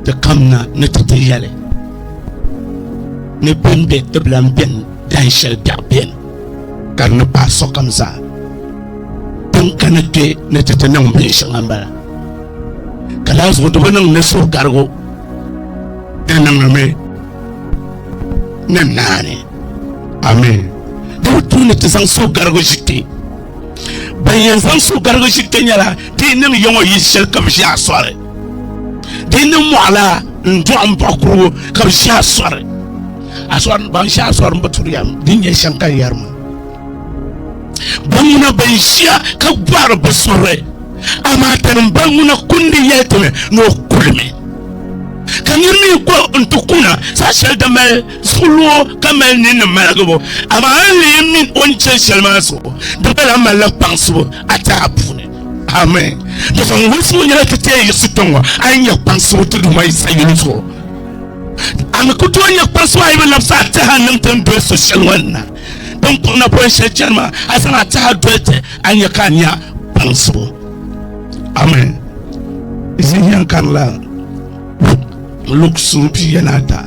Ti kamina ni ti ti yɛli ni bɛn be Qibla m-beni dahin shɛli biɛɣu beni ka di ni paai sokam zaa. Din kana kpe ni ti ti niŋ binshɛŋa m-bala. Ka daa zuɣu di bi niŋ ni suhugarigu di niŋmi ni naani. Amin. Di bi tu ni ti zaŋ suhugarigu ʒi kpe. Ban yɛn zaŋ suhugarigu ʒi kpe nyɛla Di yi niŋ yiŋɔ yi shɛli ka bɛ ʒi a sɔri. Di yi niŋ mɔɣila n dɔɣi m baɣi kurugu ka bɛ ʒi a sɔri. A sɔri ban ʒi a sɔri m bi turi ya di ni nyɛ shɛm ka n yɛri maa. Ba ŋuna bɛn ʒiya ka gbahiri bɛ suhuri, amaa tani m ba ŋuna kundi yɛli ti mi ni o kuli mi. Ka nir mi kpuɣi n-ti kuna saha shɛli din mali Zuligu ka mali ninni maligibu, amaa a ni leei min o ni chani shɛli maa zuɣu, di gba lahi malila kpaŋsibu a taha puuni. Amen. Dɔkta ŋun wulisi ŋɔ nyɛla ti teei yiɣisi kpe ŋɔ a yi nya kpaŋsibu ti Duuma Yisa yuli zuɣu. A ni ku tooi nya kpaŋsibu a yi bi labisi a taha niŋ ti ni doli so shɛli ŋɔ ni na. Din kɔŋ na pɔi shɛli chani maa, a zaŋ a taha doli ti, a nya ka a nya kpaŋsibu. Amen. Ʒihi yɛn kanila Luk suhu pia ni ata.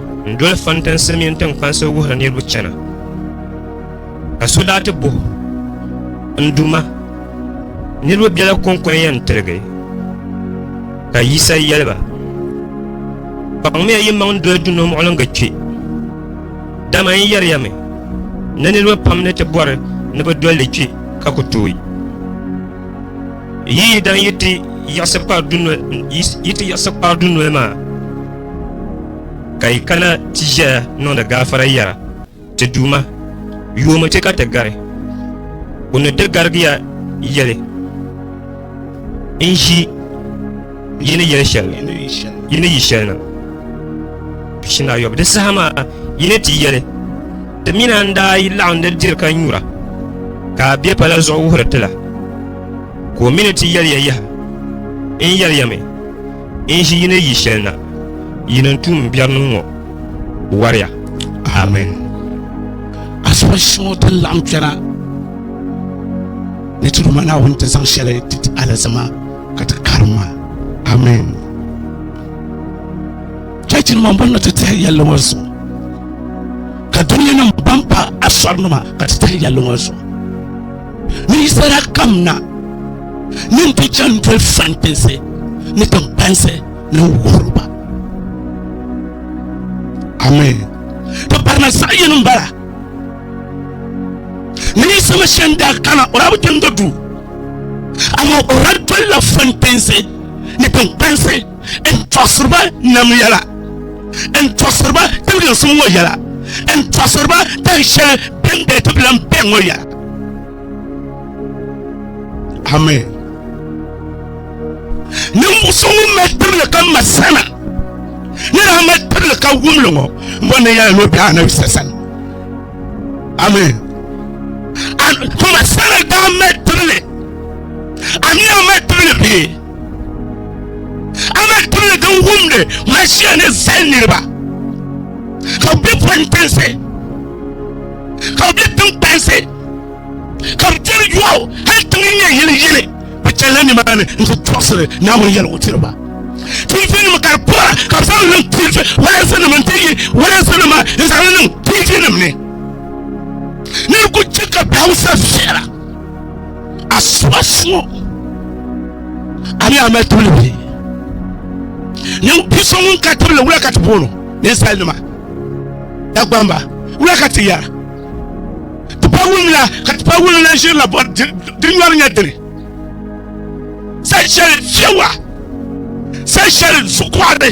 n doli fantinsi mini tinkpansi wuhiri niriba chana ka so daa ti buhi n duma niriba bela kɔŋkɔn yɛn tirigi ka yisa yɛliba kpaŋmiya yi maŋ doli duno muɣiliŋga kpe dama n yɛriya mi ni niriba pam ni ti bɔri ni bi doli kpe ka ku tooi yi yi dan yi ti yiɣisi kpari dunoli maa Ka yi kana ti ʒɛya niŋdi gaafara yɛra, Ti Duuma, yoomi ti ka ti gari? O ni di garigiya yɛli, N ʒi yi ni yɛli shɛli yi ni yi shɛli na. Shinayɔbu di saha maa yi ni ti yɛli, Ti mi na n-daa yi laɣim di diri ka nyura, ka a be pala zuɣu wuhiri ti la, ka o mi ni ti yɛli ya yaha, N yɛli ya mi, N ʒi yi ni yi shɛli na, yi ni n tuum m biɛri niŋ ŋɔ, wariya. Amen. Asiba shɛŋa din laɣim kpɛna ni ti Duuma Naawuni ti zaŋ shɛli ti ti alizama ka ti karim ma. Amen. Chɛchi nima ban na ti tahi yɛlli ŋɔ zuɣu ka dunia nim ban pa asɔri nima ka ti tahi yɛlli ŋɔ zuɣu. ninsala kam na nin ti chani doli fantinsi ni tinbansi ni wuhiri ba amen ti barina zaɣ yini n bala ni Yisa Masia n daa kana o daa bi kpɛmdi duu amaa o daa dolila fantinsi ni tinbansi n tɔɣisiri ba nam yɛla n tɔɣisiri ba tiliginsim ŋɔ yɛla n tɔɣisiri ba tan shɛli bɛn bɛ ti bilan bɛ ŋɔ yɛla amen ninvuɣu so ŋun mali tibili ka ma sana ni daa mali tibili ka wumli ŋɔ n bɔ ni yɛla ni o bɛ anabi sa sani amen tuma sana daa mali tibili amiya mali tibili bee Amaa timli din wumdi Maʒia ni zali niriba, ka bɛ be pɔntinsi, ka bɛ be tiŋkpansi, ka bɛ diri yɔɣu hal tiŋ n-nyɛ yili yini, bɛ chanila nimaani n-ti tɔɣisiri Naawuni yɛliwutiriba. Tiivinima ka di pɔra ka bɛ zaŋ li niŋ tiivi walansinima nti yi walansinima n-zaŋ li niŋ tiivinima ni. Niriba kuli chɛ ka bɛ Hausa viɛla. a suba suŋɔ a ni a mali tibili bɛ ninvuɣu so ŋun ka tibili wula ka ti boono ninsali nima dagbamba wula ka ti yɛra ti pa wulumla ka ti pa wulumla n ʒirila bɔri di nyɔri nyɛ dini sali shɛli fiɛwa sali shɛli zuɣukoɣari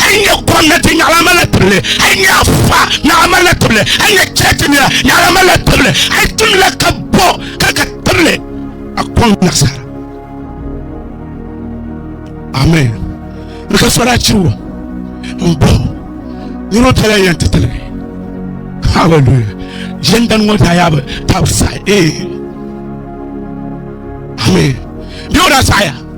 Hali n nyɛ gomnati nyaɣala n malila tibili hali n nyɛ afa nyaɣala n malila tibili hali n nyɛ chɛchi nira nyaɣala n malila tibili hali tumdila ka bo ka ka tibili a kɔŋ nasara amen n ka sɔra chiwo n bo nira o tala yɛn ti tiligi hallelujah yɛn dan ŋɔ daa yaa bi tabi sahi ee amen bɛ o daa saɣaya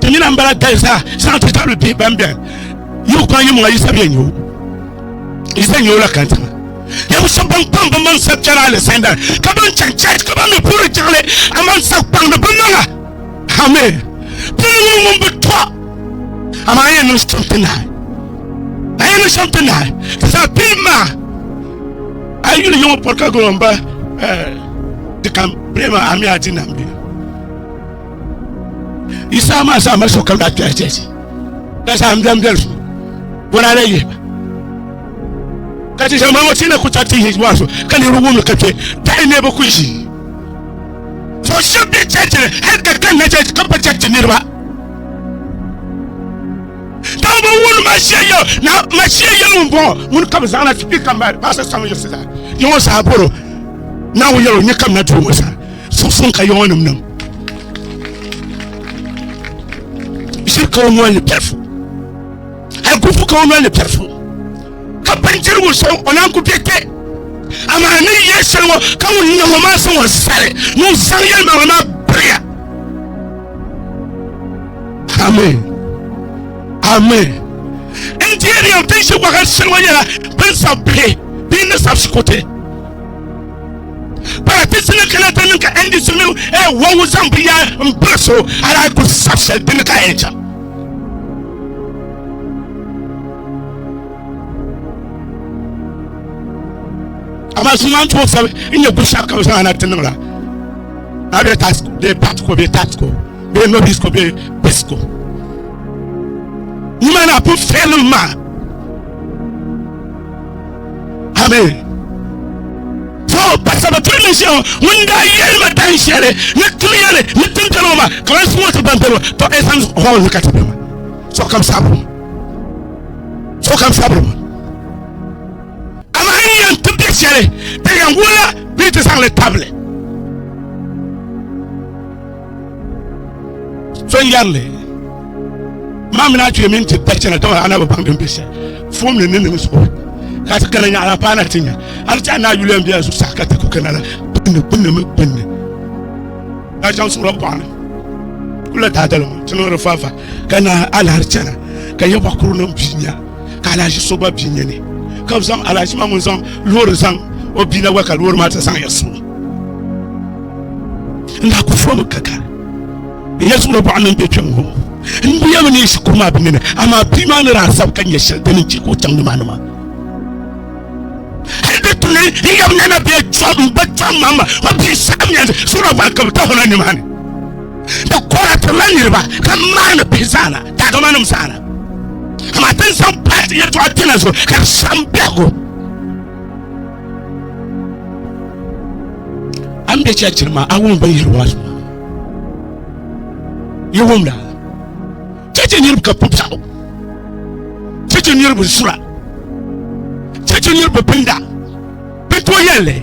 Ti nyina m-bala dali zaa zaŋ ti tabili bihi ban bɛri yiɣu kɔŋ yimuŋa Yisa bɛ nyo Yisa nyo la kan tiŋa. Yɛm shɛb ban kpaŋ bɛ maŋ sa kpɛri alizanda ka ban chaŋ chɛɛch ka ban mi puhiri jiŋli aman sa kpaŋ ni bɛ niŋ a. Amen. Ti ni ŋun ŋun bi tɔ amaa a yɛn niŋ shɛm ti nahi. A yɛn niŋ shɛm ti nahi. Ti zaa pini maa a yi yuli yiŋɔ pɔri ka gɔlɔmba eh, di kam bee maa a mi a di nam bee. yi saha maa saha mali sokam daa kpɛri tɛsi ka saha n biɛm biɛli so bɔraada yihi ba ka ti zama ŋɔ tina ku ta ti yihi maa so ka niriba wumli ka kpɛ dahi ne bi ku ʒi so shɛba bɛ chɛchi ni hali ka kanna chɛchi ka pa chɛchi niriba dama bi wuni mashia yɛ na mashia yɛ ŋun bɔŋɔ ŋun ka bi zaŋ na ti kpi ka mali baasa saŋ yɛ sida yɛ ŋɔ saha bɔro na ŋun yɛro nyɛ kam na duu ŋɔ saha Suŋsuŋ ka yɔɔnim niŋ ʒiri ka o noli ni pɛrifu hali gufu ka o noli ni pɛrifu ka bindirigu so o naan ku bɛ kpɛ amaa ni yɛ shɛli ŋɔ ka ŋun niŋ ŋɔ maa zaŋ o zali ni o zaŋ yɛlimaŋli maa biriya amen amen n diɛri yɛm tin ʒi waɣa shɛli ŋɔ nyɛla bin sabi bihi bee ni sabi shikuti paratisi ni kana ti niŋ ka ndc mini e wɔŋu zaŋ bi yaa n biri so ala ku sabi shɛli dini ka yɛn chaŋ amaa so maa n tuo sabi n nyɛ bushɛli ka bi zaŋ ana ti niŋ la a bɛ taasi ko bɛ paati ko bɛ taati ko bɛ nobis ko bɛ pisi ko ni ma na pun fɛlim maa Amen. So pasaba tuli ni shɛŋa ŋun daa yɛli ma dan shɛli ni tim yɛli ni tim tɛli o ma ka ban suŋ o ti ban tɛli to ɛsam hɔl ni ka ti bɛ ma so kam sabiri ma so kam sabiri ma amaa n yɛn ti bɛ shɛli ti yɛn wula bee ti zaŋli tabili So n yɛrili, Maa mi ni a kpee mini ti da chana, dama a na bi baŋ din be shɛli fom ni ni niŋ zuɣu ka ti kana nyaɣila paai na ti nya. A ni ti a ni a yuliya n be a zuɣusaa ka ti ku kana la gbinni, gbinni mi gbinni. Daa chaŋ suɣila bɔɣa ni kula daadali ŋɔ ti niŋdi fafa ka naai alahi chana ka ya bɔɣa kuru nim bi nya ka alahi so gba bi nya ni ka bi zaŋ alahi maa ŋun zaŋ loori zaŋ o bia na gba ka loori maa ti zaŋ ya so. n daa ku fɔmi ka kari n ya zuɣuri bɔɣa ni n bɛ kpɛm ŋɔ n bi yɛmi ni shikuru maa bi mini amaa bia maa ni daa sabi ka nyɛ shɛli din chɛ ka o chaŋ nimaani maa hali di tuli n yɛm nana bɛ chɔm n ba chɔm maa ma ma bia saɣam yɛn sura gba ka bi ta hona nimaani di kora tirila niriba ka maani bihi zaana daadama nim zaana amaa tin zaŋ paati yɛtɔɣa kpɛna zuɣu ka di saɣam biɛhigu An bɛ church ma a wum bin yiri wash ma. Yi wum da. Church niriba ka pup saɣu. Church niriba sura. Church niriba pinda. Bi to yɛlli.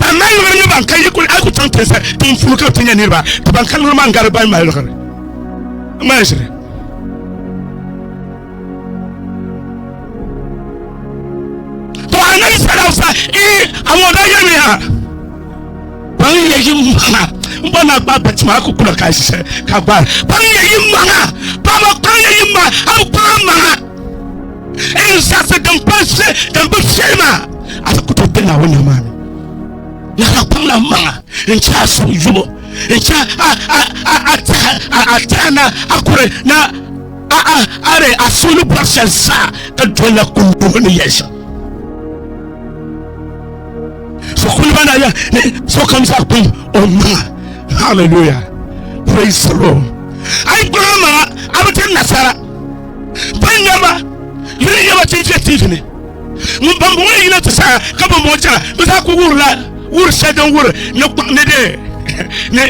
ban mali liɣiri nyɛ ban ka yi kuli a ku chaŋ tinsa din fulu ka ti nyɛ niriba ka ban ka liɣiri maa gari ban mali liɣiri maa ʒiri to anabi sallallahu sa i awon da yemi ha ban yɛ yi maŋa n bɔ na gba bati maa ku kula ka ʒiṣɛ ka gbari ban yɛ yi maŋa paɣaba ban yɛ yi maŋa a ku kpaɣa maŋa Ɛn zaɣisi din pa nse din bi fiɛli maa a ti ku tooi kpɛ Naawuni nima maa ni. Lala kpaŋla m maŋa n-chɛ a suhu yubu n-chɛ a tɛha ni a kuri ni a di a suhu ni bɔri shɛli zaa ka dolila kuligu ni yɛli shɛm. So kuliba na ya ni sokam zaa kum o maŋa. Hallelujah. Praise the Lord. Ai gbɔŋ maŋa a bi tiri nasara. Ban nya ma ni di nya ba ti ʒe tiivi ni ŋun bambɔŋɔ ni yina ti saha ka bambɔŋɔ chana bɛ zaa kul wurila wur shɛli din wuri ni kpaŋ ni di ni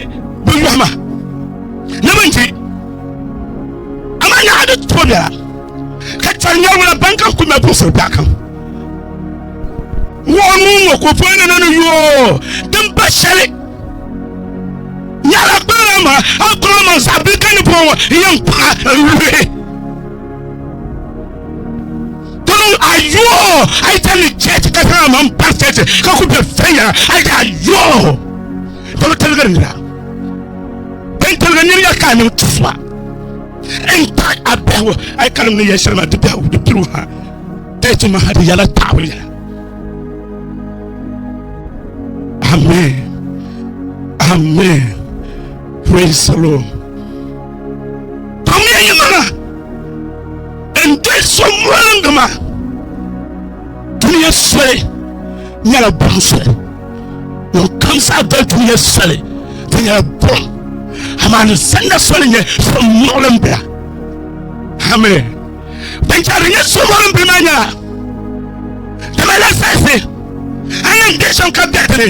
bi yɔhi ma ni bɛ ni ti amaa ni a di tooi bela ka chɛri nyarigu la ban kam kul mali buɣisiri biɛɣukam. Ŋɔɣu mini ŋɔ kopoyina na ni yoo din pa shɛli nyɛla kpalala ma a kɔŋ ma zaɣ bili ka ni bɔŋɔ ŋɔ n yɛn kpaɣa n luhi tɔm a yoo a yi tani chɛchi ka zaŋ ma n pari chɛchi ka ku bɛ fɛnyɛla a yi a yoo tɔm taligiri nira bin taligi niri ya ka a niŋ tusuba n kpaɣa a biɛhigu a yi ka niŋ ni yɛn shɛli ma di biɛhigu di pirigu ha Tɛ ti maha di yɛla taawuli yɛla. Amen. Amen. Praise the Lord. Tɔmiya yi mana n doli so mɔlingi ma duniya soli nyɛla buɣum soli ŋun kam saa doli duniya soli di nyɛla buɣum amaa ni sanna soli nyɛ so muɣili n bila. Amen. ban chɛri nyɛ suhuri n bɛ maa nyɛla dama la saɣisi a ni bɛ shɛm ka bɛ dini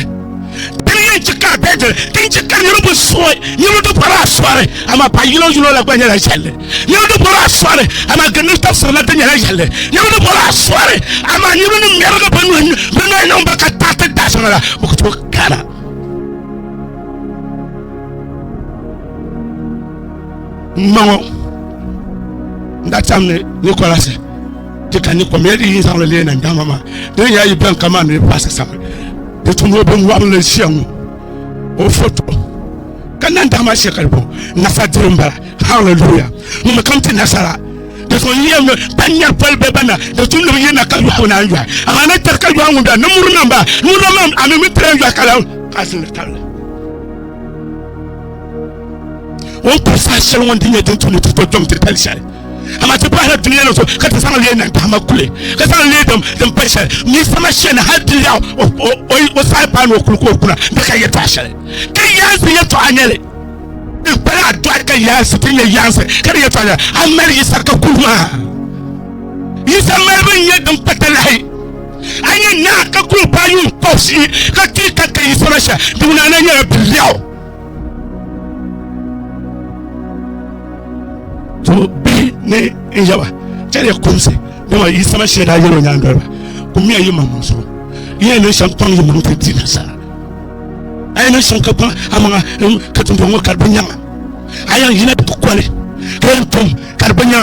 dini yɛn chɛ ka bɛ dini din chɛ ka niriba bi suhi niriba di bɔri a suhiri ama pa yino yino la gba nyɛla yɛlli niriba di bɔri a suhiri ama gindi tafsiri la di nyɛla yɛlli niriba di bɔri a suhiri ama niriba ni mɛrigi bi nuhi bi nuhi niŋ ba ka taɣiti daashɛŋa la bi ku tooi kana N ma ŋɔ n daa chaŋ ni Nikolasi ti ka ni kom ya di yi zaŋli leei nandama maa di ni yaa yi bɛn kaman ni paasi sami di tum o binwɔbinli ʒiya ŋɔ o foto ka nandama shɛkali bo nafa diri n bala haleluya ŋun kam ti nasara di so yi yɛm ban nyɛri poli bɛ bana di tum ni bi yina ka yɔɣu naan yɔhi amaa ni tiri ka yɔɣu ŋun bɛ ni muri namba nuri namba a mi mi tiri yɔhi ka la ka zini tabili o ni kuli saha shɛli ŋɔ n ti nyɛ din tumdi ti to kpɛm ti tali shɛli amaa ti bahila dunia ŋɔ zuɣu ka ti zaŋ lee niŋ tahama kuli ka zaŋ lee dam din pali shɛli mi sama shɛli hali ti yaɣi o saha paanu o kuli ka o kuna n bɛ ka yɛtɔɣa shɛli ka yaansi yɛtɔɣa nyɛli n kpala a dɔɣi ka yaansi ti nyɛ yaansi ka di yɛtɔɣa nyɛli a mali yisa ka kuli maa yisa malibu n nyɛ din pata lahi a nyɛ naa ka kuli paai yuun kɔbisi ka ti ka ka yisa ma shɛli di wuna na nyɛla bi lɛɣu to bihi ni n yaba chɛli ya kumsi dama yi sama shee daa yɛlo nyaŋ doliba kum ya yi maŋ maŋ so yi ya ni shɛm kpaŋ yi maŋ ti di nasara a yi ni shɛm ka kpaŋ a maŋa ka tumbɔŋɔ ka di bi nyaŋa a yan yina bi kɔli ka yan tom ka di bɛnya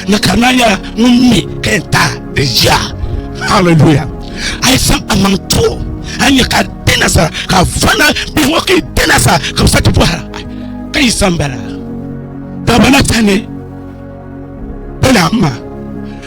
ni ka di na nyɛla ŋun mi ka yɛn ta di ʒiya haleluya a yi saŋ a maŋ to a nyɛ ka di na sa ka fana bihi ŋɔ ka yi di na sa ka bi sa ti bɔhira ka yi saŋ bala ka bana sani bala ma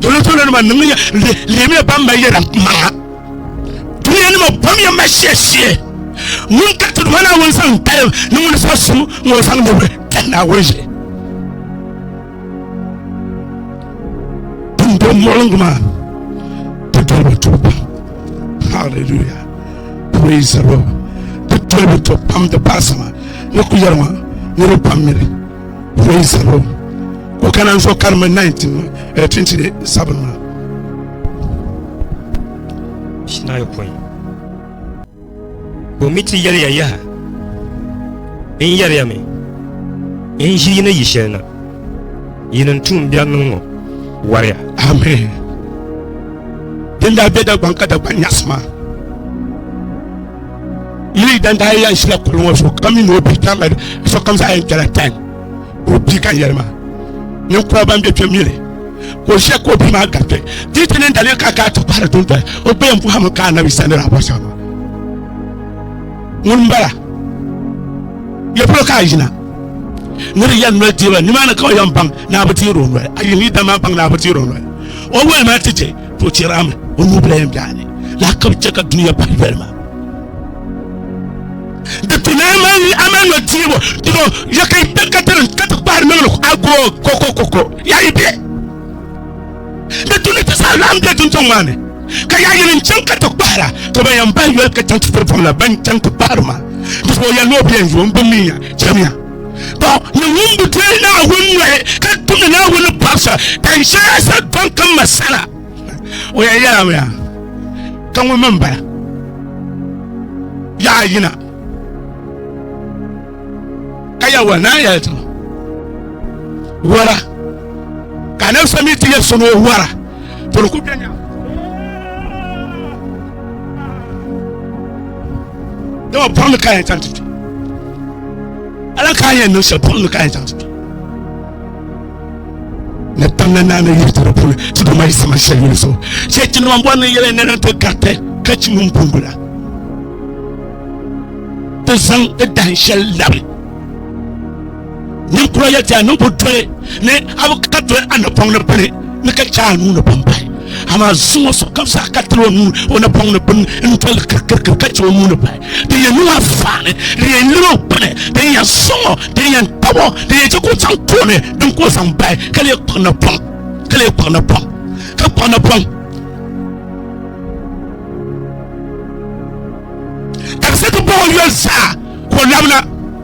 Dole dole nima niŋ ya lihimiya ban mali yɛda maŋa duniya nima bom ya ma shia shia ŋun ka ti duma naawuni zaŋ dalim ni ŋuni so su ŋɔ zaŋ nubili kan naawuni ʒe din dom muɣiliŋgu maa ti doli bi tuhi pam hallelujah praise the lord ti doli bi tuhi pam di baasima ni ku yɛri ŋɔ niriba pam miri Wei Zhilong ko kana n zuɣu karimi 1927 maa shinayi pɔi ko mi ti yɛliya yaha n yɛriya mi n ʒi yini yi shɛli na yini n tuun biɛri niŋ ŋɔ wariya amen din daa be dagbaŋ ka dagbaŋ nyaɣasi maa Yili dan daa yan shila kuli ŋɔ so kam ni o bi tam so kam zaɣa yɛn kpɛla tan o bi ka yɛli maa ninkura ban bɛ kpɛ mili ka o ʒiya ka o bi maa gariti di ti ni dali ka gaa ti kpahari tun tali o gba yɛn buɣa mi ka anabi sani raa bɔsa maa ŋun bala yɛ polo ka a yina ni di yɛn noli diba nimaani ka o yɛn baŋ ni a bi teeri o noli a yi ni dama baŋ ni a bi teeri o noli o wɛli maa ti chɛ To chɛra mi o nuu bila yɛn biɛhi ni lahi ka bi chɛ ka duniya bahi doli ma di ti na mali ama nɔ diibu dino ya ka yi bɛ ka ti ka ti kpahiri mi lɔk agoo ko ko ko ko ya yi bɛ di tu ni ti sa lahi bɛ duntaŋ maa ni ka ya yɛli n chaŋ ka ti kpahira ka ban yɛn bahi yoli ka chaŋ ti tiri fam la ban chaŋ ti kpahiri ma di zuɣu ya ni o bi yɛn zo n bi mi ya chɛmiya Tɔ, ni ŋun bi deei Naawuni nɔhi ka tumdi Naawuni ni pɔbisa tan shɛli sa dɔŋ ka ma sala, o yɛn yɛlimi yaa, ka ŋun mi m-bala, yaa yina. Ka Yawɛ naan yɛli ti ma, Wara, ka a nabisa mi ti yɛli so ni o wara, tɔ di kul beni yaa. dama buɣim ni ka yɛn chaŋ ti kpi ala ka yɛn niŋ shɛli buɣim ni ka yɛn chaŋ ti kpi ni tamna naani yiri tiri puuni ti duma yi sama shɛli yuli so shɛ chinima bɔri ni yɛlɛ nɛna ti gariti ka chi ŋun bongo la ti zaŋ ti dahin shɛli labi ninkura yɛli ti ya niŋ bi doli ni a bi ka doli a napɔŋ ni bini ni ka chɛ a nuu ni bin pahi amaa zuŋɔ so kam zaa ka tiri o nuu o napɔŋ ni bini n doli kirikirikiri ka chɛ o nuu ni pahi din yɛn niŋ a faani din yɛn liri o gbuni din yɛn suŋɔ din yɛn tabo din yɛn chɛ ka o chaŋ tooni din ka o zaŋ bahi ka lee kpuɣi napɔŋ ka lee kpuɣi napɔŋ ka kpuɣi napɔŋ ka bi sɛ ti bahi o yoli zaa ka o labina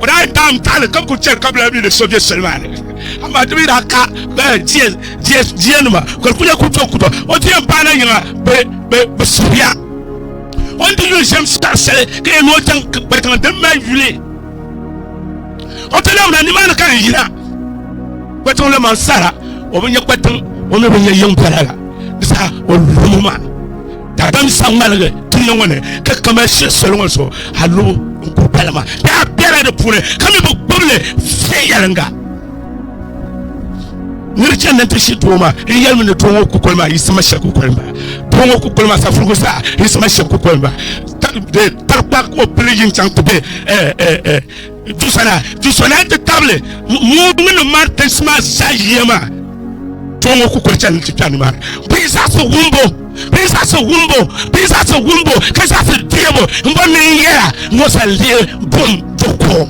o daa yɛn daam taali ka kuli chɛli ka bi lahi mi ni so bɛ soli maa ni amaa di mi daa ka diɛ diɛ diɛ nima ka di kuli nyɛ kuli tɔku tɔku o diɛ n paai na yiŋa bi bi bi suhuya o ni di yuli shɛm sitari sali ka yɛn ni o chaŋ kpɛritiŋa din mali yuli o ti lahi na nimaani ka n yina kpɛtiŋ la man sara o bi nyɛ kpɛtiŋ o mi bi nyɛ yiŋ bɛla la di saha o lumu maa Daadam sa ŋmaligi dunia ŋɔ ni ka kaman shiri soli ŋɔ zuɣu hal lubu n-kuri pala maa daa bela di puuni ka mi bi gbubi li viɛnyɛliŋga. Nir chani ni nti shi doo maa n-yɛli mi ni doo ŋɔ kukoli maa yiɣisima shɛli kukoli m-bala. Doo ŋɔ kukoli maa safurugu zaa yiɣisima shɛli kukoli m-bala. Tarikpaa ka o pili yi ni chaŋ ti be. Dusana, dusana n-ti tabili muumini Martins maa zaa yiya maa. Tɔɔ ŋɔ ku kuli chani nti kpɛri nimaani. Bɛ yi zaɣisi wumbu, bɛ yi zaɣisi wumbu, bɛ yi zaɣisi wumbu ka zaɣisi deebu m-bɔri ni n yɛra ŋɔ zaŋ lihi bum di ko.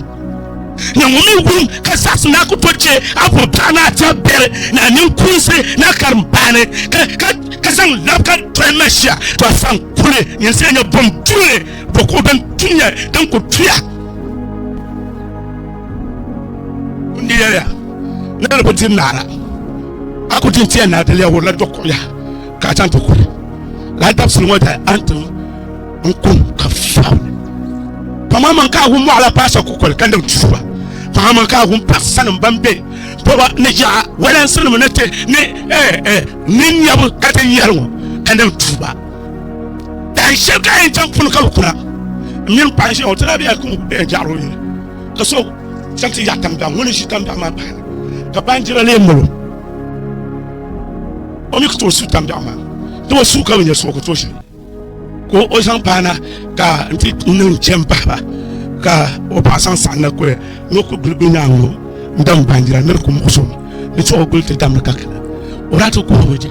Na ŋɔ mi wum ka zaɣisi ni a ku tooi che a bubiɛɣu ni a tɛb biɛri ni a ninkuunsi ni a karimbaani ka zaŋ labi ka doli Mɛsia. Tɔɔ a saŋ kuli nyin siya nya bum duli. bɛ kuɣu din tuya din ku tuya n yɛya na di bi diri naara a ku din tiya naa daliya wurila do kuɣuya ka a chaŋ ti kuri laa dabisili ŋɔ da a ni tim n kum ka fiɛbili paŋa man ka a wum mɔɣila paasa kukoli ka niŋ tuuba paŋa man ka a wum paɣasanim ban be bɔba ni yaɣa walansinim ni te ni ni nyɛbu ka te yɛri ŋɔ ka niŋ tuuba tan shɛli ka yɛn chaŋ puuni ka bi kuna n mini paɣa ʒiya o tila biya kuni biya jaɣari o yini ka so chaŋ ti yaɣa tambiɛɣu ŋuni ʒi tambiɛɣu maa bahana ka baanjira lee malo o mi ka tooi su tambiɛɣu maa ti o suu ka bi nyɛ so ka tooi shɛli ka o zaŋ paana ka n ti niŋ chɛ n bahaba ka o paɣa zaŋ saɣam na kuli ni o ku guli guli nyaangi ŋɔ n dam baanjira ni di ku muɣuso ni chuɣu guli ti damdi ka kana o daa ti kuhuri o je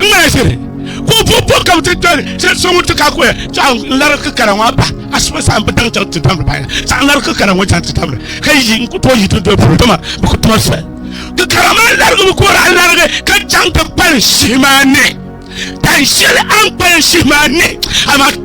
ŋmalishiri ka o bo bo kam ti doli shɛli so ŋun ti ka kuya tɔɣa n lari kikara ŋɔ ba ashibɛ saha n bi daŋ chaŋ ti damdi ba ya saha n lari kikara ŋɔ chaŋ ti damdi ka yi n ku tooi yi ti doli polo dama bi ku tuma soli kikara maa larigi bi kora n larigi ka chaŋ ti kpalim shihi maa ni tan shɛli a ni kpalim shihi maa ni amaa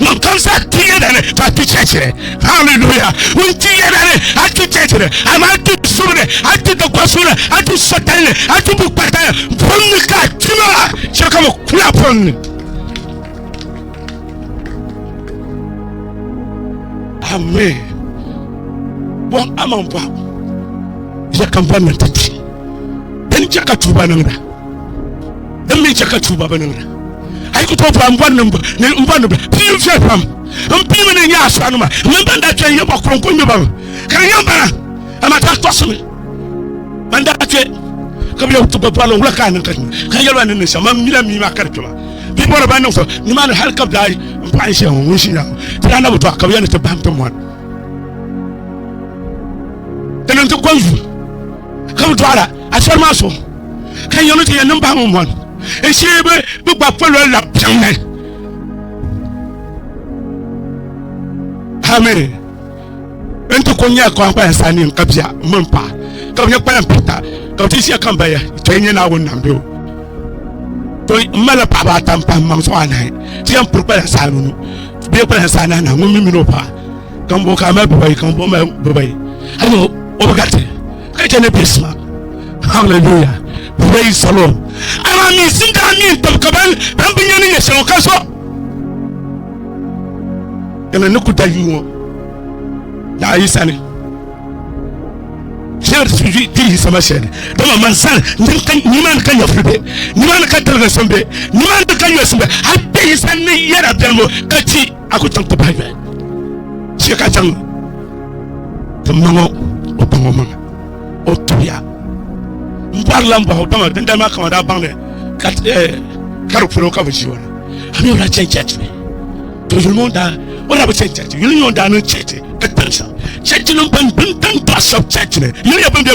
Ŋun kam zaa ti yɛda ni ka ti chɛchiri. Hallelujah. Ŋun ti yɛda ni a ti chɛchiri, amaa a ti subu ni, a ti dikpasu ni, a ti sɔtali ni, a ti bukpata ni. Buɣim ni ka a ti maa, chɛ ka bɛ kuli a buɣim ni. Amen. Bɔhim a maŋ bɔhim. Chɛ ka m ba ni ti ti. Dini chɛ ka tuba niŋda. Din mi chɛ ka tuuba bi niŋda. A yi ku tooi paai m-bɔri ni m-bɔri ni bɛ pii viɛl pam. M pii mini n nya asɔɣinima mini bɛn daa kpe n-nyɛ ba kɔŋko ŋme ba mi, ka di yɛn bala amaa ti tɔɣisimi ban daa kpe ka bɛ leei ti gba bɔrili wula ka a niŋ ka nya ka yɛli ba ni n niŋ shɛm maa m-mila mii maa ka di kpe maa. Bɛ bɔri ba niŋ so nimaani hal ka bɛ daa n paɣi n shɛhi ŋɔ ŋun ʒi nya ŋɔ ti daa na bi dɔɣi ka bɛ yɛli ni ti bahim ti mɔri di niŋ ti kɔŋ yuun ka bi dɔɣira asɔri maa so. ka yɛm ti yɛn niŋ bahi ŋun bɔni n shee bi bi gba polo la piɛŋni hami n ti ko nyɛ kɔn kpaya saa ni ka bia mini pa ka bi nyɛ kpaya pita ka bi ti ʒiya kan baya to nyɛ naawuni nam bɛ o to n mali paɣaba ata n pahi maŋ so anahi ti yɛn piri kpaya saa nunu bia kpaya saa ni anahi ŋun mi mini o pa kan bo ka mali bibayi kan bo mali bibayi hali o bi gariti Ka chɛ ni bɛ suma. Hallelujah. Praise the Lord. Amaa mi sin daa mi n-tib ka ban ban bi nya ni yɛ shɛm ka so. Dama ni ku da yuu ŋɔ. Daa yi sani. Shɛli si vi ti yi sama shɛli. Dama man sani nim ka nimaani ka nyɛfuri bɛ. Nimaani ka daliga sɔm bɛ. Nimaani ka nyɔsim bɛ. Hali bɛ yi sani ni yɛra bɛlibu ka ti. a ku chaŋ ti bahi yoli shee ka chaŋ ti ma ŋɔ o baŋ o maŋa o tuya n bɔrila n bɔhi o baŋa dindali maa kama daa baŋ ni ka eh, di polo ka bi ʒi o ni a mi o daa chaŋ chɛchi ni to yuli ŋɔ daa o daa bi chaŋ chɛchi yuli ŋɔ daa niŋ chɛchi ka tiri shɛm chɛchi nim ban bin tan dɔɣi shɛb chɛchi ni yuli nyɛ bin bɛ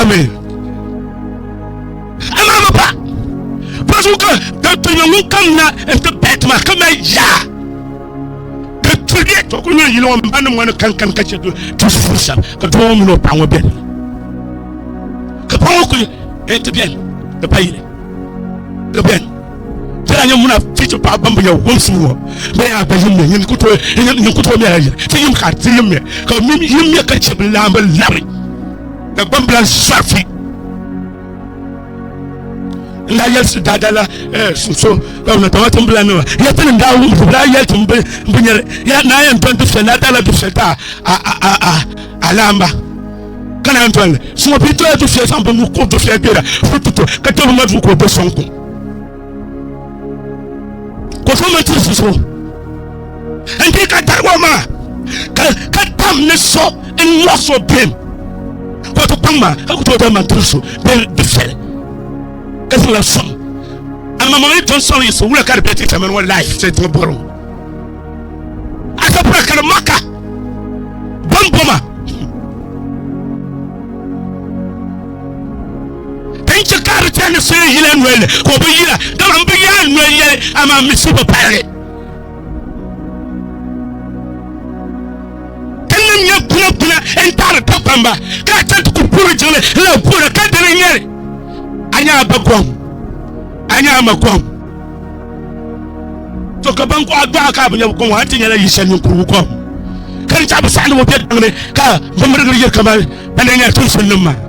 amen amaama pa pasu ka ka tɔnyɛ ŋun kam na n ti pahi tuma ka mali yaa ka tuliɛ to ku nyɛ yili ŋɔ n ba ni ŋɔ ni kankan ka chɛ ti zuɣu shɛm ka doo ŋɔ mini o paɣa ŋɔ bɛni ka paɣa ŋɔ kuli ti bɛni ka pa yili ka bɛni tira nyɛ muna fiichi paɣa ban binya wumsi ŋɔ bɛ yaa bɛ yimmiya yin ku tooi yin ku tooi mɛla yiri ti yim ka ti yimmiya ka mim yimmiya ka chɛ bi laamba labi ka gbambila zɔrfi n daa yɛlisi daadala sunso ka na tama tin bila nima ya ti nim daa wum ti daa yɛli tin bi bi nyɛri ya naa yɛn dɔn dufɛ naa daala dufɛ daa a a a a a laamba kana n dɔnli suma bi dɔla dufɛ zaŋ bi nu ko dufɛ gbɛra fututu ka tɛbi ma du ko bɛ sɔŋ kum ka o so mini tiri so n di ka dari ŋɔ maa ka tam ni so n nyɔ so bim ka o ti kpaŋ maa ka ku tooi dali man tiri so bee di viɛli ka zaŋla sɔŋ amma mo yi ton sɔŋ yi so wula ka di bɛ ti tamani ŋɔ laif ti ti bɔro a ka bura ka di maka bamboma Ka yi chɛ ka a di chɛ ni so yi yila noli ni, ka o bi yila, dama m bi yaai noli yɛli, amaa mi so bi pali li. Ka n ni nya kuna kuna n-taɣiri Dagbamba, ka a chaŋ ti ku puuri jiŋli n-lahi boora, ka dini n-nyɛ li? A nya a ba gom, a nya a ma gom. To ka ban kɔɣa dɔɣa ka a bi nya bɛ kom maa nti nyɛla yi shɛli ninkurigu kom, ka di chaɣi bɛ saɣindibo be daŋ ni ka bɛ mirigiri yiri kaman bɛ ni nyɛri tiŋsimnim maa.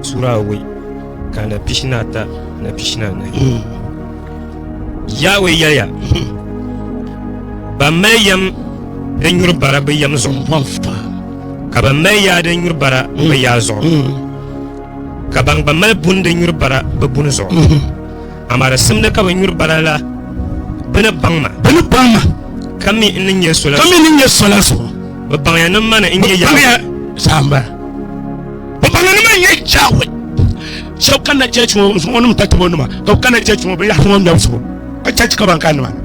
Sura awɔi ka na pishina ata na pishina anahi. Hmm. Yaawe yɛliya, hmm. Ban mali yɛm din nyuri bara bɛ yɛm zuɣu, ka ban mali yaa din nyuri bara bɛ hmm. yaa zuɣu, ka ban gba mali buni din nyuri bara bɛ buni zuɣu. Amaa di simdi ka ban nyuri bara la bɛ ni baŋ ma. Bɛ ni baŋ ma. Ka mi n ni nyɛ sola. Ka mi n ni nyɛ sola zuɣu. Bɛ baŋya ni mani n nyɛ Yaawe. Bɛ baŋya saamba. Bɔbɔlinima n-nyɛ Yawɛ. Shɛb kanna chɛchi ŋɔ zuɣu ŋɔ ni bɛ ta tib o nima, ka bɛ kanna chɛchi ŋɔ binyɛhisi ŋɔ ŋmɛbu zuɣu, ka chɛ ka ban kani nimaani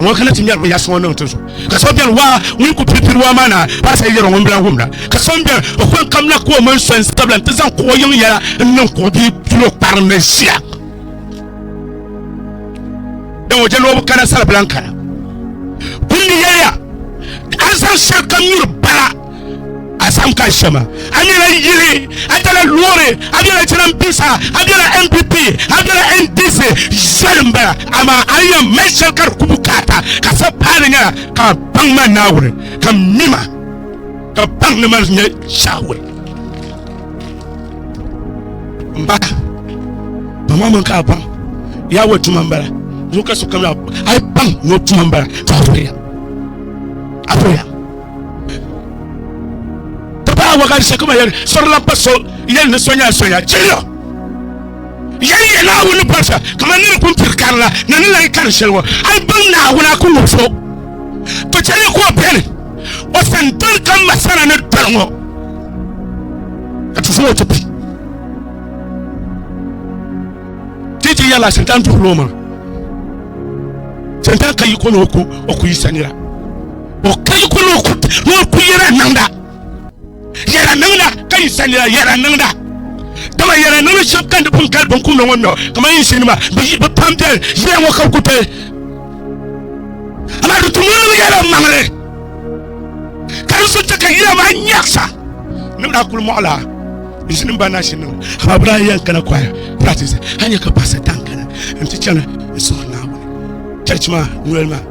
ŋɔ kana ti ŋmɛri binyɛhisi ŋɔ niŋ ti zuɣu. Ka so beni, waa, ŋun ku piri piri waa maa naa paɣisiri yɛri o ŋun bi lahi wumda. Ka so m-beni, o kɔŋ kamina ka o mini so n-sabila nti zaŋ kuɣ yiŋ yɛla n-niŋ kuɣ bil pil o kpari ni ʒia. Dama o je ni o bi kana sal bela n-kana. Kum ni yɛliya ka a zaŋ shɛlikam nyuri bala. a sam ka shɛma a nyɛla yili a tala loori a bela jiranbiisa a bela npp a bela ndc zoli n bala amaa a ni yɛn mali shɛli ka di ku bukaata ka sa paani nyɛla ka baŋ ma naawuni ka mima ka baŋ ni ma nyɛ shaawuli n ba ba ma min ka baŋ yaa wa tuma n bala zuɣu ka sokam a yi baŋ ni o tuma n bala ka a Ti paai wagan shɛli kuma yɛli sɔrila pa so yɛli ni sonya sonya chiliya yɛli yɛ Naawuni ni bɔrisa kamani ni ni pun piri karila ni ni lahi kari shɛli ŋɔ hali baŋ Naawuni a ku ŋub so to chɛli ni ka o beni o sani doli ka ma sana ni doli ŋɔ ka ti zaŋ o ti bi ti ti yɛla shintan duhiri o maŋa shintan ka yi ko ni o ku yi sanira o ka yi kuli ni o ku yɛra niŋda yɛra niŋda ka yi sa nira yɛra niŋda dama yɛra niŋda shɛba kani bin kali bin kumda ŋɔ nɔ kamani yinsi nima bi pam bɛni yɛra ŋɔ ka bi ku pili amaa di tum ŋɔ yɛra maŋli ka di so chɛ ka yɛra maa nyɛɣisa ni bi daa kuli mɔɣila yinsi nim ba na shi niŋ amaa bi daa yɛn kana kwaya practice a nyɛ ka paɣasa tan kana n ti chani n suhuri Naawuni chɛchi maa noli maa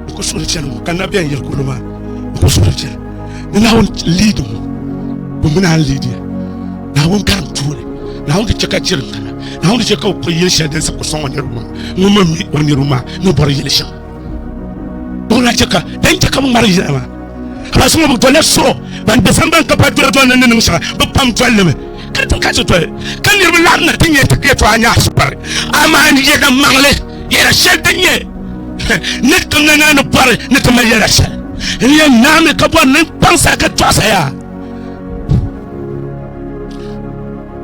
bi ku suhuri chɛni ŋɔ ka na bɛn yiri kurili maa bi ku suhuri chɛni ni naawuni liidi ŋɔ bi mi naan liidi naawuni karim tuuli naawuni di chɛ ka chɛri kana naawuni di chɛ ka o kuli yili shɛli din sa ku sɔŋ o niriba maa ŋun mi mi o niriba maa ni bɔri yili shɛm ŋun na chɛ ka din chɛ ka bi ŋmari yina maa ka ba so ŋɔ bi dɔlila so ban dɔsan ban ka pa dɔla dɔlini ni niŋ shɛŋa bi pam dɔlimi ka ti ka ti toli ka niriba laɣim na ti nyɛ ti kpɛ tɔɣa nyaɣi sukpari amaa ni yɛda maŋli yɛda shɛli din nyɛ ni ti na naa ni bɔri ni ti mali yɛda shɛli n yɛn naami ka bɔri ni kpaŋsa ka tɔɣisa yaa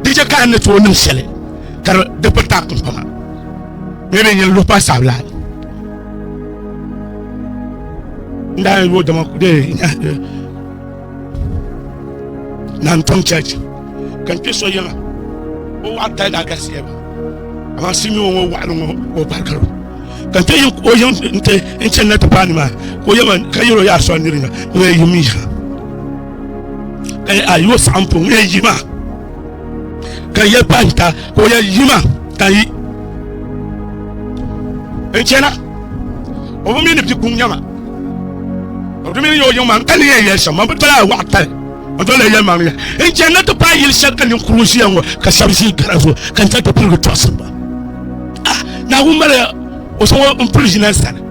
di chɛ ka ni tooi niŋ shɛli ka di piri taɣi kunkpama ni bɛ nyɛ luɣu pa sabila n daa yi wo dama de na n tom church ka n kpe so yiŋa o waɣa tali daa galisiya ba amaa si nyuo ŋɔ waɣali ŋɔ ka o barikiro ka n kpe yi o yiŋ n te n chani na ti paani maa ka o yɛma ka yɛro yaa sɔri nirinya ŋun yɛ yim yi ha ka yɛ a yi o saɣim po ŋun yɛ yi maa ka yɛ kpa n ta ka o yɛ yima ka yi n chɛna o bi mi ni bɛ kuŋ nyɛma o bi mi ni yɛ o yiŋ maa ka ni yɛn yɛli shɛm man bi dɔla a waɣa tali n dɔla yɛli maa yɛ n chɛni na ti paai yili shɛli ka ninkuru ʒiya ŋɔ ka shɛba ʒi gara zuɣu ka n chɛni ti pirigi tɔɣisi ba ah naawuni mali o so ŋɔ n puli ʒina n sani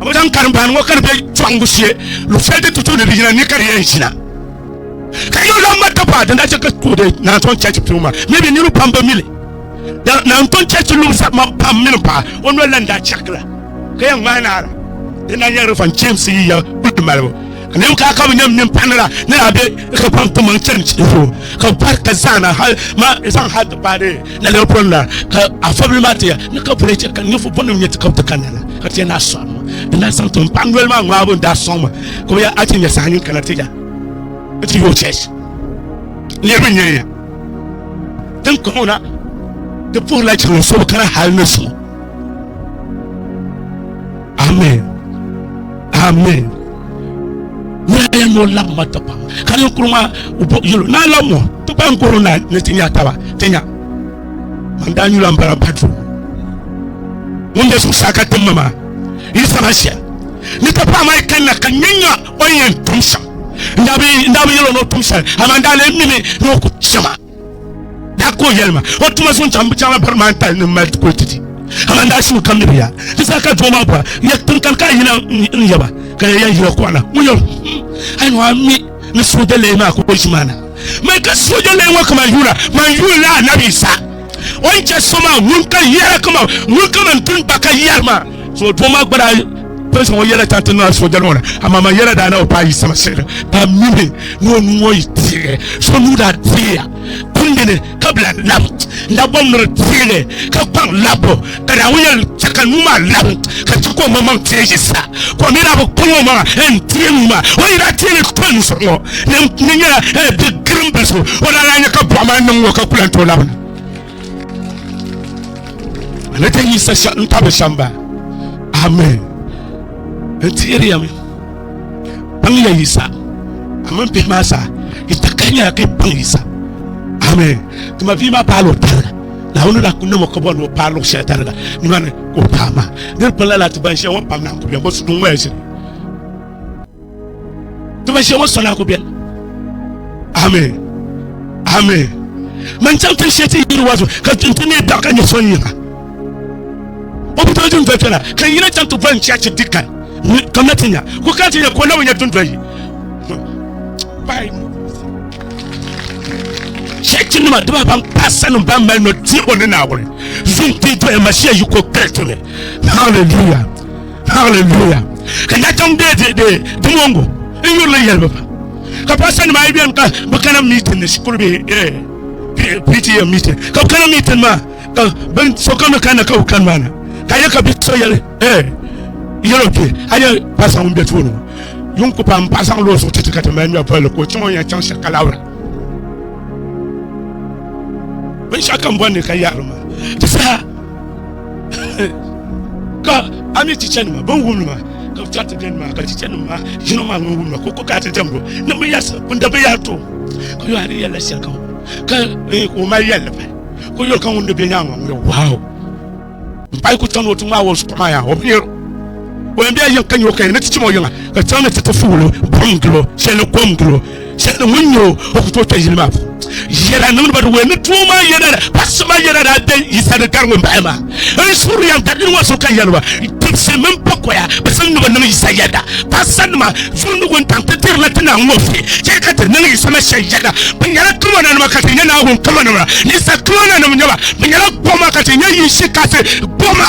a bɛ zaŋ karim baani ŋɔ ka di bɛ cɔɣingu shee luɣushɛli din tutu ni di yina ni ka di yɛn ʒina ka yuli lan ŋma dapaa din daa chɛ ka kuudi naantɔn chɛchi piŋ maa mi bi niriba pam bi mili naantɔn chɛchi luɣusa man pam mini paɣa o noli lan daa chɛkila ka yɛn ŋmaai naara din daa nyɛrili fan James yiya kuli malibu Nim ka ka bi nyɛm nin paɣanira ni daa bɛ ka pam ti maŋ chɛni chɛ zuɣu ka bi pari ka zaana hali ma zaŋ hali ti paai na lɛbi pɔri na ka afɔbili maa ti ya ni ka bɔli chɛ ka ninfu bɔ nim nyɛ ti ka bi ti ka nana ka ti yɛ na sɔŋ ma di na zaŋ tim paɣa noli maa ŋmaa bi daa sɔŋ ma ka bi ya a ti nyɛ saha nin kana ti ya ti yoo chɛch niriba nyɛ ya din kɔŋɔ na ti puhiri la chɛŋ so bi kana hali ni so Amen. Amen. Nyɛ ya nyɛ o labi ma ti kpaŋ. Ka ninkuri maa yɛlo naa la mo ti kpaŋ koro naa ni ti nya taba ti nya. Man daa nyula m-bala badru. Ŋun be zuɣusaa ka tim ma maa yi saba shɛm. Ni ti pahi maa kanna ka nya nya o ni yɛn tum shɛm. N daa bi yɛl o ni o tum shɛli amaa n daa lee mimi ni o ku chɛ ma. daa ko yɛlima o tuma zuŋ chaŋ chaŋla bari maa n-tali ni mali ti kuli ti ti amaa daa su kam ni bɛ ya ti sa ka doo maa bɔra yɛ tiŋ kam ka yina n-yɛba ka yɛ yan yina kɔɣina ŋun yɛ hmm, ayi maa mi ni sooja lɛyi maa ka o ʒi maa na mai ka sooja lɛyi ŋɔ kama yuuna man yuunila anabi sa o ni chɛ so maa ŋun ka yɛra kama ŋun kama n-tin ba ka yɛri maa So doo maa gba daa pili so ŋɔ yɛla chaŋ ti niŋla sooja ŋɔ ni amaa man yɛla daa na o paai sama sihiri ka mimi ni o nuu ŋɔ yi teegi so nuu daa teeya kundini ka bila lab n daa bɔm ni di teegi ka kpaŋ labbu ka daa ŋɔ yɛli chɛ ka nuu maa lab ka chɛ ka o maŋmaŋ teegi sa ka o mi daa bi kpaŋ o maŋa n teei nuu maa o yi daa teegi kpaŋ nuu sɔŋ ŋɔ ni nyɛla bi girim bili so o daa daa nyɛ ka bɔɣu maa niŋ ŋɔ ka kula n tooi labina Ana ta yi sa n tabi samba. Amen. N tihiri ya mi. Baŋ ya yi sa. Amen bihi maa sa. Yi ta kahi nyɛla ka baŋ yi sa. Amen. Tima bia maa paalo tariga. Naawuni daa ku namo ka bɔri ni o paai luɣu shɛli tariga nimani ka o paai maa. Di di kpinla laati ban shɛli ŋɔ pam na n ku bɛ ŋɔ su duŋ ŋɔ ya shɛli. ti ba shɛŋa sɔna ku bɛni ami ami man chaŋ tin shɛti yiri wa zuɣu ka tin ti ne daɣu ka nyɛ sɔn yiŋa o bi tɔjin dɔli piɛla ka yina chaŋ ti bɔn chachi dikan ka na ti nya ku ka ti nya ko na bi nya dundɔyi shɛti nima diba ban paasa nim ban mali nɔ diɛbo ni naawuni zuŋ ti dɔya mashia yi ko kpɛli tuni hallelujah Hallelujah. Ka na chaŋ bɛ de de di mongo n yurili yɛlibu pa. Ka paɣasa nima ayi bɛni ka bi kana meeting ni shikuru bɛ eh, P- PTA meeting. Ka bi kana meeting maa ka bin sokam ni kanna ka bi kani maa na. Ka yɛ ka bi so yɛli eh, yɛlo bɛ a yɛ paɣasa ŋun bɛ tooni ŋɔ. Yuŋ ku paam paɣasa ŋun loo suɣu titi ka ti mali nyɔ pɔlli ka o chaŋ o yɛn chaŋ shɛli ka labira. Binshɛɣu kam bɔndi ka yaɣari maa. Ti saha ka a mi chichanima bin wumli maa ka bi chɛri ti biɛni maa ka chichanima maa yino maa ŋun wumli maa ka o ko ka ti dɛmbo ni bi yɛsi bin da bi yɛri to ka yo a ni yɛlila shɛli kam ka eh, o mali yɛlli pa ka yuli ka ŋun di bɛ nyaanga ŋun yɛ waaw n payi ku chaŋ o ti ŋmaa o zuɣu maa yaa o bi yɛro o yɛn bɛ yɛn ka nyɛ o ka yɛn ni ti chim o yiŋa ka chaŋ ni ti ti fuulo buɣum gilo shɛli kom gilo shɛli ŋun nyɛ o ku tooi kpɛ yili maa puuni yɛda niŋdiba di wee ni doo maa yɛda pasi maa yɛda daa bɛ yisa ni gari ŋun bahi maa n suri yɛn dari ŋɔ so ka yɛliba tibisi mini pakoya bi zaŋ ni bi niŋ yisa yɛda pasa nima zundi wuntaŋ ti dirila ti naa ŋɔ fi chɛ ka ti niŋ yisa na shɛn yɛda bi nyɛla kamana nima ka ti nyɛ naawuni kamana nima yisa kamana nima nyɛba bi nyɛla goma ka ti nyɛ yinshi kasi goma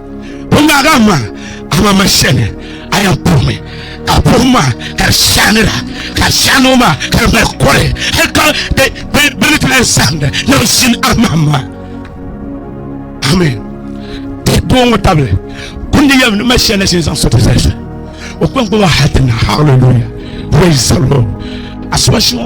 Puhi maa ka ma, ama ma shɛli a yɛn puhi mi ka puhi maa ka di shaanira ka shaanoo maa ka di mali kɔri hali ka bɛ ni ti lahi saɣindi ni bi ʒini a mahim maa. Amen. Ti doo ŋɔ tabili kundi yɛm ni ma shɛli na shini zaŋ so ti zali so. O kpaŋkpama hali ti na. Hallelujah. Praise the Lord. Asuba shɛŋa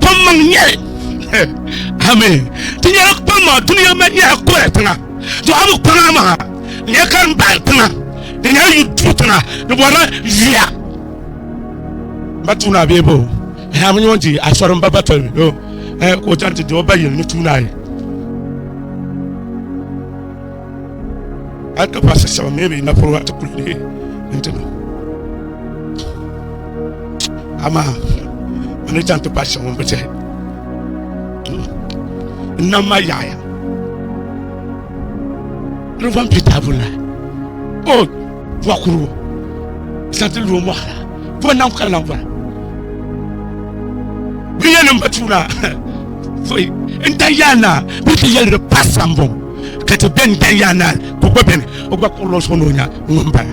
kpammaŋ nyɛli amin ti nyɛla kpammaŋ duniya ma nyɛla kɔya tiŋa dɔɣabu kpaŋa maa nyɛ ka n bahi tiŋa di nyɛla yu duu tiŋa di bɔrila yuya ba tuuna bee bo ha mi nyɔn di asɔri n ba batɔl mi do ka o chaŋ ti di o ba yili ni tuuna yi a ka ba sasaba mɛ bi na fɔlɔ a ti kuli ne n ti na ama a ni chaŋ ti paati shɛŋa bi tihi n nam ma yaɣaya rufan pita bula o bɔ kuru santi lu mɔɣara bɔ nam ka lan bɔra bi yɛli n ba tuura foyi n ta yaana bi ti yɛli di pa sambɔŋ ka ti bɛn bɛn yaa naan ka o gba bɛni o gba kɔrila o suɣu ni o nya ŋun bala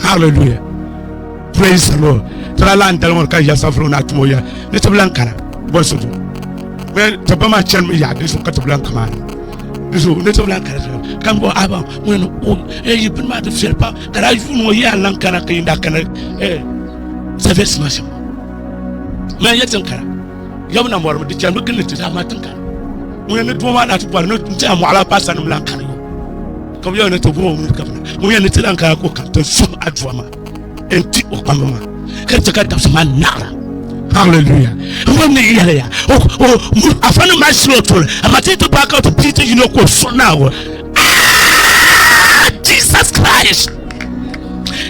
hallelujah praise the lord tala lan dali ŋɔ ka ya safiro na tumo ya ni ti lan kana bɔn so well ti ba maa chɛni mi yaa di zuɣu ka ti lan kama ni so ni ti lan kana kan bɔ aba ŋɔ ni o e yi bin maa ti fɛri pam ka daa yuuni o yaa lan kana ka yin da kana e sɛfɛ sima sima mɛ yɛ tin kana Yom na mɔrimi di chɛnimi gilli ti daa ma tiŋ kani. Ŋun yɛn ni duuma maa na ti bɔri ni n tiɛha mɔɣila paasa nim lan kani yo. Ka bi yɛn ni ti gum o mini gabina. Ŋun yɛn ni ti lan kana ka o kam ti suhim aduwa maa n ti o kpamba maa. Ka chɛ ka dabisi maa naɣira. Hallelujah. Ŋun ni yɛliya o o mu afa ni ma shilo tuli amaa ti ti paaka ti pii ti yino ka o suhi naago. Ah! Jesus Christ!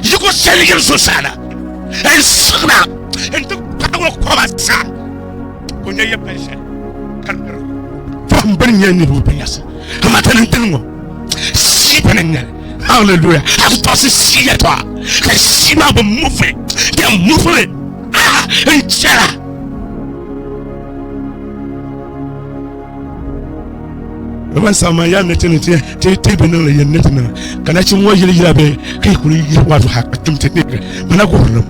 Yiko shɛli yiri zuɣusaa na. N suhina n ti kpahi o koba sa ka o nya ya pali shɛli ka di biri fahim bini nyɛ niriba bɛ nyɛsi amaa tani n dini ŋɔ sii bini n nyɛli hallelujah a ti tɔɣisi sii yɛtɔɣa ka sii maa bi muvi di muvi a n chɛra Roman sama ya ne tini ti ti ti bi niŋ yɛn ne tini ka na chim ŋɔ yili yila bɛ ka kuli yi wa zuha ka tum ti ne mana gurinam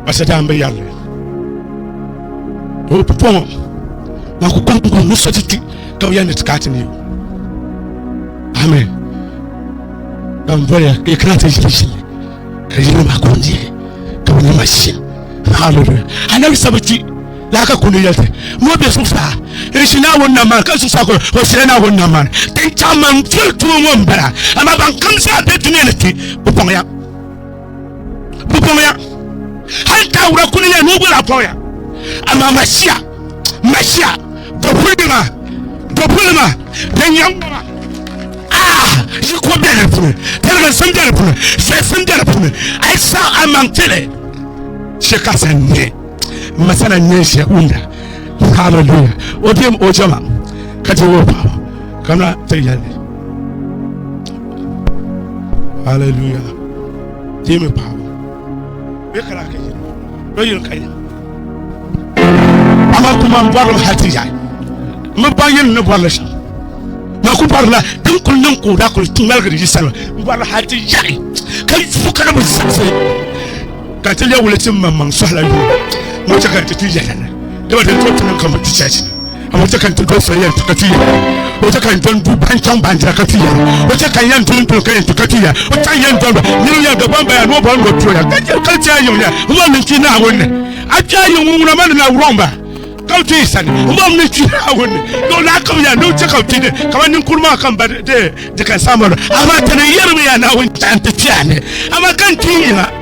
basa daa n bɛ yɛrli o pɔŋɔ ma ku kɔŋ kɔŋ ni so ti ti ka bi yɛn ne ti ka ti ne amen ban bɔya ka kana ti yili shili ka yili ma kɔŋ diɛ ka bi ne ma shili hallelujah anabi sabati laa ka kuli yɛli ti ni o be zuɣusaa n-ʒi Naawuni nam maa ka zuɣusaa kuli o ʒila Naawuni nam maa ni ti ni chaŋ man tiri tumo ŋɔ m-bala amaa ban kam zaa be dunia ni ti bɛ bɔŋya bɛ bɔŋya hali taawura kuli yɛli ni o gula bɔŋya amaa Mashia Mashia dɔbulima dɔbulima din yɛm ŋɔ maa yi ko bɛ di puuni tɛliginsim bɛ di puuni zɛsim bɛ di puuni a yi saɣi a maŋ tili shikasa n-nyɛ masana nyɛ shɛ unda hallelujah o dem o jama ka ti wo paɣa ka na ti yɛli hallelujah ti mi paɣa bɛ kala ka yɛli bɛ yɛli ka yɛli ama kuma n bɔri hati ya mi ba yɛli ni bɔri shɛm na ku bɔri la din kuli niŋ ka o da kuli ŋmaligiri yi sani n bɔri hati yaɣi ka fu ka na bi zaɣisi ka ti lɛ wuli ti maŋmaŋ sɔhila yuun ŋɔ chɛ ka n ti kpi yɛla ni dama din tɔri tinim ka mi ti chɛchi a ŋɔ chɛ ka n ti doli soli yɛn ti ka ti yɛla o chɛ ka n dɔn du ban chaŋ bandira ka ti yɛla o chɛ ka n yɛn doli doli ka yɛn ti ka ti yɛla o chɛ n yɛn dɔn ba niriba yɛn gba ban baya ni o bɔri ŋɔ tuya ka chɛ ka ti a yiŋ ya n ma min kpi naawuni a kpi a yiŋ ŋun ŋuna ma ni na wuroŋ ba ka ti yi sani n ma min kpi naawuni dɔn na kam ya ni o chɛ ka kpi ni ka ma ninkuri maa kam ba de de kan saamalo a ma tani yɛrimi ya naawuni chaŋ ti kpi a ni a ma kan ti yi na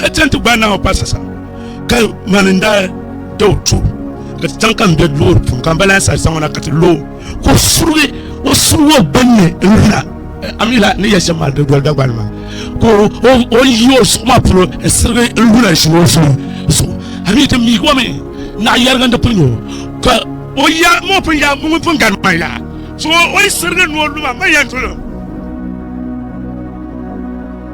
ka chɛŋ ti gbaai Naawuni pali sasa ka mani n daa da o tubu ka ti chaŋ ka n be loori puuni ka n balaya saha zaŋ o na ka ti lo ka o surigi o surigi o gbunni n luna amila ni yɛli shɛm maa di doli Dagbani maa ka o yi o zuɣu maa polo n sirigi n luna n ʒini o zuɣu zuɣu amii ti miigi o mi naɣa yɛrigi n di pili nyoo ka o ya mo pun ya ŋun pun gari man ya so o yi sirigi ni o luma man yɛn dolo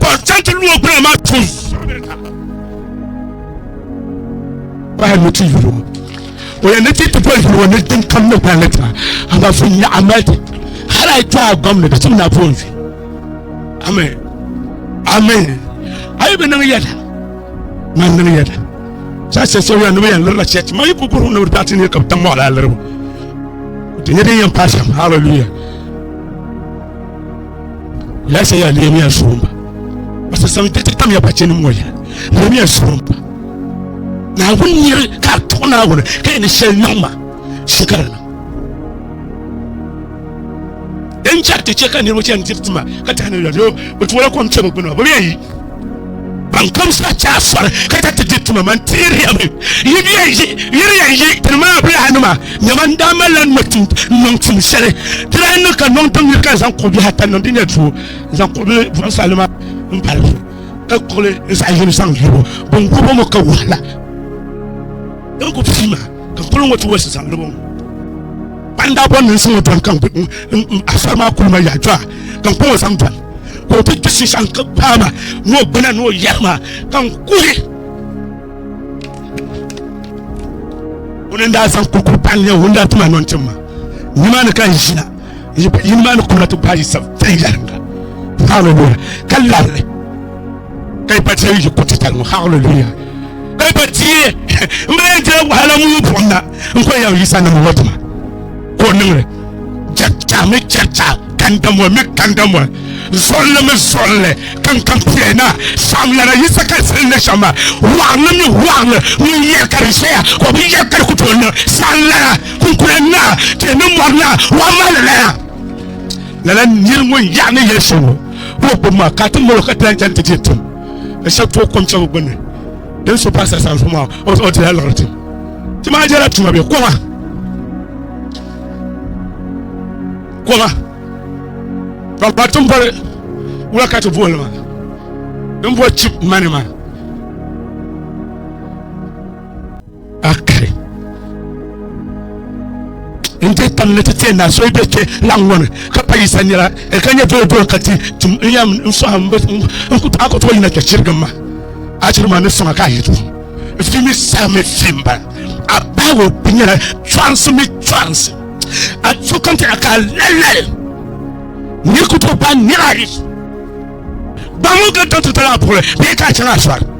ka o chaŋ ti lu o gbuna maa tum pahi ni ti yuli o o yɛn ni ti ti boli yuli o ni din kam ni gbali ta ama fun nyaɣa mali ti hali ayi kpaa gɔm ni ka tim na pun fi amen amen ayi bi niŋ yɛda ma niŋ yɛda saa sɛ sɛ yɛn ni bi yɛn lirila chɛchi ma yi ku burum ni bi daa ti ni ka bi tam mɔɣala liribu ti nyɛ din yɛn paasam hallelujah Laɣisa ya Nehemiya suhumbu. O sasaŋ diriti tamya bachɛnim ŋɔ ya Nehemiya suhumbu. Naawuni niri ka a tuɣi Naawuni ka yi ni shɛli niŋ ma, shɛ ka di niŋ. Din chɛri ti chɛ ka niriba chani diri tima ka tahina la, doo bɛ tuɣila kom kpɛbu gbini maa, bɛ bi yɛn yi. Bankomsi a chaa sɔri ka ta ti di tuma man teeriya mi yiriya n yi tini maa bilahi nima nyɛma n daa malila n niŋ tum shɛli di daa niŋ ka niŋ tiŋ yiri ka zaŋ kuɣu bihi ata niŋ di nyɛ duu n zaŋ kuɣu bili buɣinsi alima n pali zuɣu ka kuɣuli n zaɣ yini zaŋ yiribu bin gubo mi ka wahala din ku pii maa ka kuli ŋɔ ti wasi zaŋ libo ŋɔ kpanda bɔn niŋ siŋɔ dɔn kan asɔri maa kuli ma yaɣa jɔa kan kɔŋɔ zaŋ dɔn ka o ti di shishɛŋ n-ti gbaai ma ni o gbuna ni o yɛri ma ka n kuhi o ni daa zaŋ kurikuri pahi n-nyɛ o ni daa ti ma nɔntim ma nimaani ka n ʒina yini maa ni kuna ti gbaai sab viɛnyɛliŋga hallelujah ka labili ka yi pa teei yi kuriti tali ŋɔ hallelujah ka yi pa teei n bala yɛn dila wahala mu yi buɣim na n kɔn yɛn yisa ni mi ŋɔ dima ka o niŋli chɛricha mi chɛricha kandamoli mi kandamoli zolli mi zolli kankampiɛ na saamlana yisa ka di sili na shɛm maa waɣinli mi waɣinli ŋun yɛri ka di ʒɛya ka o bi yɛri ka di ku tooi niŋ saamlana kunkuna na tihi ni mɔri na waa maa lala ya lala niri ŋun yaɣi ni yɛli shɛm ŋɔ ka o gbubi maa ka ti mali o ka ti lan chani ti dihi tim ka shɛba tooi kom shɛba gbunni Din so paɣa sara sanfu maa, o dila liɣiri tim. Ti maa jela tuma be koma. Koma. Ka ba tin boli wula ka ti boli maa. Din boli chip money maa. Akari. N ti tam ni ti tiɛ na so bɛ kpɛ laŋ ŋɔ ni ka pa yisa nira ka nyɛ doo doo ka ti tum n yɛm n sɔɣa n ku a ku tooi yina kpɛ chirigi ma a chiri ma ni sɔŋa ka a yi tu fi mi saa mi fi n ba a baawo bi nyɛla chɔrisi mi chɔrisi a tu kan ti a ka lallali ni ku tooi pa nira yi gbamu ka dɔnti tala a puɣuli bee ka a chaŋ a sɔri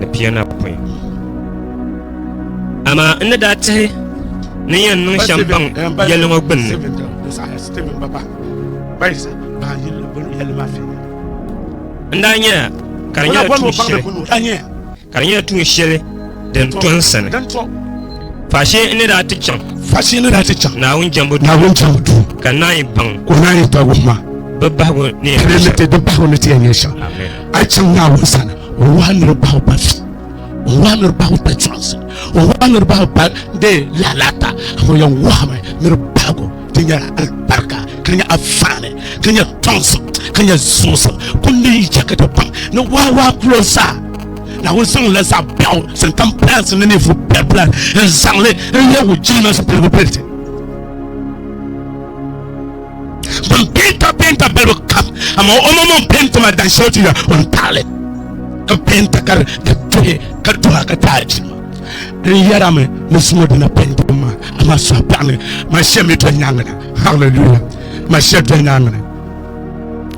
ni pianapɔin. Amaa n ni daa tihi ni yɛn niŋ shɛm baŋ yɛli ŋɔ gbinni. N daa nyɛla ka di nyɛla tuun shɛli ka di nyɛla tuun shɛli din to n sani faashee n ni daa ti chaŋ naawuni jɛmbu duu ka naan yi baŋ bi bahigu ni yɛn nyɛ shɛm A yi chaŋ Naawuni sani, o wahi niriba bahi o pa fi, o wahi niriba bahi o pa chɔɣinsi, o wahi niriba bahi o pa de lalata, amaa o yɛn wahimi niriba bahigu din nyɛla alibarika, ka nyɛ afaani, ka nyɛ tɔŋsim, ka nyɛ zuɣusim. Kundi yi chɛ ka ti baŋ ni waawaa kulo zaa Naawuni zaŋ la zaɣ biɛɣu zaŋ tam pilansi ni ninvuɣ biɛribila n-zaŋ li n-lebi o jilima zipiligu bɛliti. ban penta penta balibu kam amaa o maŋ maŋ penti maa dan shɛli ti ya o ni taɣali ka penta ka ka tuhi ka tuha ka taai ti n yɛra mi ni sumo dina penti maa amaa suha paɣa mi maa shɛli mi doli nyaanga na hallelujah maa shɛli doli nyaanga na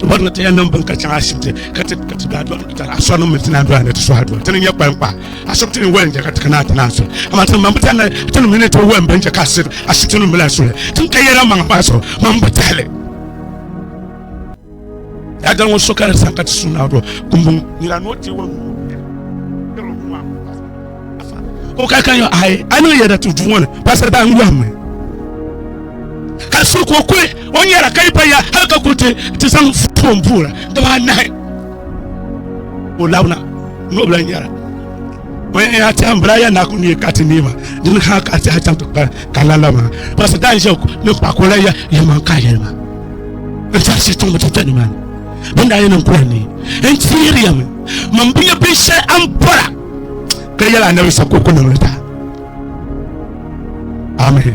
wani ta yan nan bin ka can asibiti ka ti ka ti da don ta asɔri min ti na don ne ti suha don tini nyɛ kpankpa Ashipti ni wɛli n-chɛ ka ti kana ti naan suli, amaa tinmaŋ bi tɛli ni ti ni mi ni tooi wɛli bɛn chɛ ka ashipti nim bi lahi suli tin ka yɛla maŋ paai so maŋ bi tahi li. Daadal ŋɔ so ka di saha ka ti su Naawuni kumbun nira ni o teeg o nuu n-tiri o Duuma ŋɔ paasiri Afa ka o ka ka yɔn aai a niŋ yɛda ti duu ŋɔ ni paasiri daa n yɔhim mi ka so ka o kuli o nyara ka yi pa ya hali ka kuli ti zaŋ foon buɣira dibaa nahi. O labina n'o bila nyɛra o yɛn yaa tiɛha bila yɛn na ku ni ka ti niɛma dini ha ka tiɛha chaŋ ti kpa ka la la maa pasi daa n ʒe ni kpa ko la yɛ yɛ man ka yɛli maa n tiɛha si tiŋ bi ti tɛ ni maa bin daa yɛn niŋ kura ni n tiɛri yɛmi man bi yɛ bin shɛli an bɔra ka yɛla anabi sa ko ku niŋli ta amen